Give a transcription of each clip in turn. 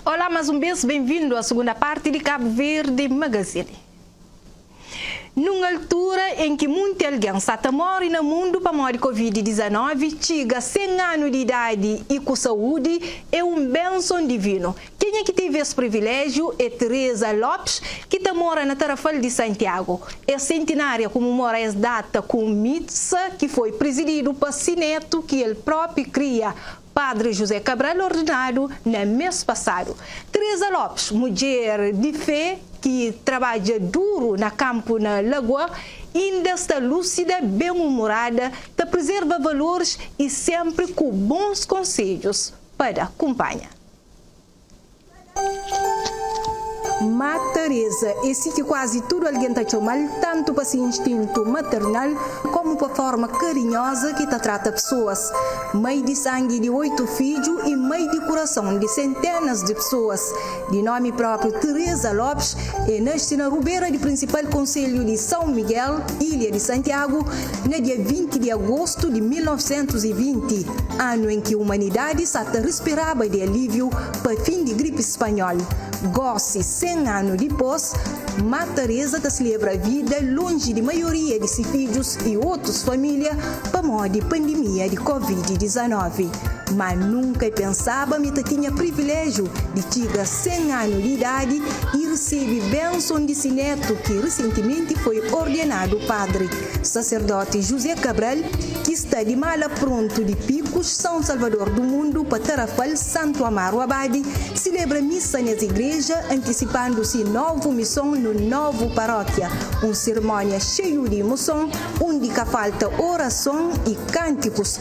Olá mas um bes bem vindo a segunda parte de Cabo Verde Magazine. Num altura em que munti alguém sa ta morre na mundo pamodi Covid-19, txiga 100 ano de idade e ku saúde é um benson divino. Kenha ki teve es privilegio é Teresa Lopes ki ta mora na Tarrafal de Santiago. Es centenaria comemora es data ku um missa ki foi presidido pa si neto ki el propi kria, Padri José Cabral ordinadu na mês pasadu. Teresa Lopes, mudjer di fé ki trabadja duru na kanpu na Lagoa, inda sta lúsida, ben umurada, ta prizerva valoris i sénpri ku bons konsedjus pa da. Kunpanha. Má Teresa é si ki kuazi tudu algen ta txoma-l, tantu pa se instintu maternal kómu pa fórma karinhoza ki ta trata pesoas. Mai di sangi di oitu fidju i mai di kurason di senténas di pesoas, di nómi própi Teresa Lopes, el naxe na Rubera di prinsipal konselhu di São Miguel, ilha di Santiago, Na dia 20 di agostu di 1920, anu en ki umanidadi sa ta rispiraba di alíviu pa fin di gripi spanhol, gósi 100 anu dipôs, Má Tareza ta slebra vida lonji di maioria di si fidjus y otus família pamodi pandimia di Covid-19. Má nunka e pensaba ma e ta tinha priviléjiu di txiga 100 anu di idadi y resebe benson di si nétu ki resentimenti foi ordenadu padri. Saserdóti José Cabral, ki sta di mala prontu di Pikus, São Salvador do Mundo, pa Tarrafal, Santu Amaro Abade, silebra missa nes igreja, antisipandu si novu mison no novu parókia, un sirmónia xeiu di imoson, undi ka falta orason y kántikus.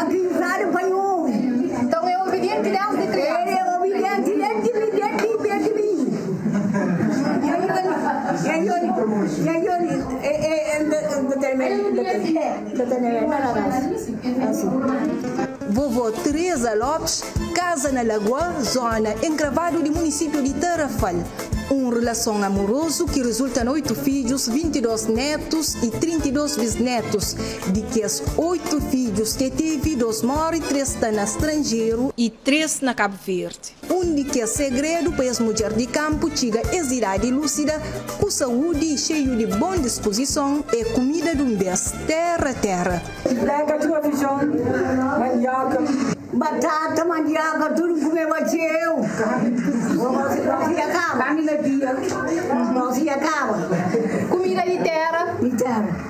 Avisadu pa i obi. Nton e obidienti desdi kriansa. El e obidienti desdi minininhu. Vovô Teresa Lopes kaza na Lagoa, zóna enkravadu di munisipiu di Tarrafal. Un relason amurozu ki rizulta na oitu fidjus, 22 nétus y 32 bisnétus, Di kes oitu fidjus ki el tevi, dôs móre, três sta na stranjeru. I três na Kabu Verdi. Un di kes segredu pa es mudjer di kanpu txiga es idadi lúsida ku saúdi i xeiu di bon dispuzison é kumida di un bês, téra, téra. Pega txeu fidjon, mandióka. Batata, mandióka, tudu kumeba txeu. Nós ia kaba. Kami na dia. Nós ia kaba. Kumida di téra. Di téra.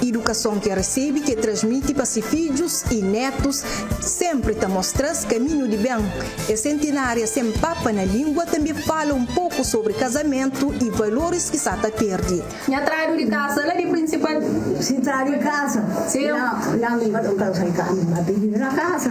Idukason ki el resebe, ki el transmiti pa si fidjus y netus, senpri ta mostra-s kaminhu di ben. Es sentinária sen papa na língua tanbe fala un poku sobri kazamentu y valoris ki sa ta perde. Nha tradu di kasa la di prinsipal. Si tradu di kasa la mi ba ta un kasa di kasa mi ba ta vive na kasa.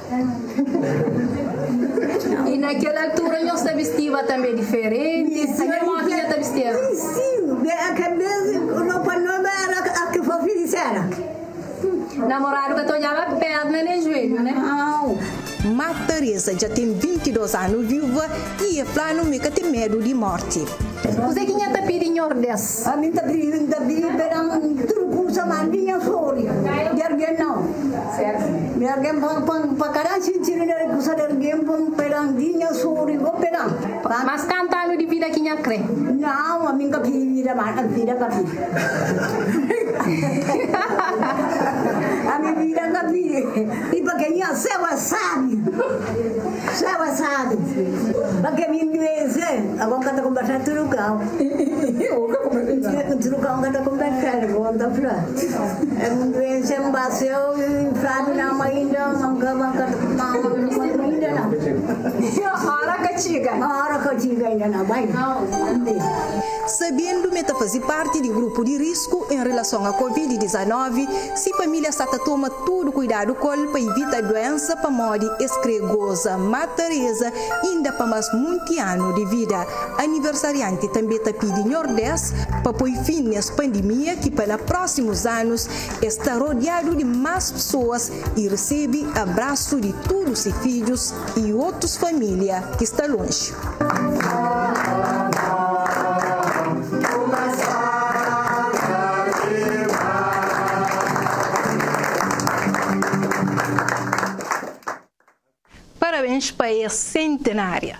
I na kel altura nhos ta bistiva tanbê diferenti? Sa nha irmon Fia ta bisti asi? Namoradu ka ta odjaba pérna nen juelhu, ne? Má Teresa dja ten 22 anu viúva I e fla, Nu mi ka ten medu di morti. Kuzé ki nha ta pidi Nhordes? Ami N ta bibi, N ta bibi beran tudu kuza, ma N di nha flori di argen nau. Mi argen pa N, pa kada xintidu di argen, kuza di argen pa N peda, N di nha flori bo pedan. Mas kantu anu di vida ki nha kre? Nau, ami N ka pidi vida, ma vida ka pidi. Ami vida ka pidi, i pa ke nha seu é sabi. Sabendu ma el ta faze párti di grupu di risku en relason a Covid-19, Si família sta ta toma tudu kuidadu kol pa ivita duénsa pamodi es krê goza má Teresa inda pa más munti anu di vida. Aniversarianti tanbê ta pidi Nhordés pa poi fin nes pandimia ki pa na prósimus anus es ta rodiadu di más pesoas i resebe abrasu di tudu se fidjus, y otus família ki sta lonji. Parabéns pa es sentenária.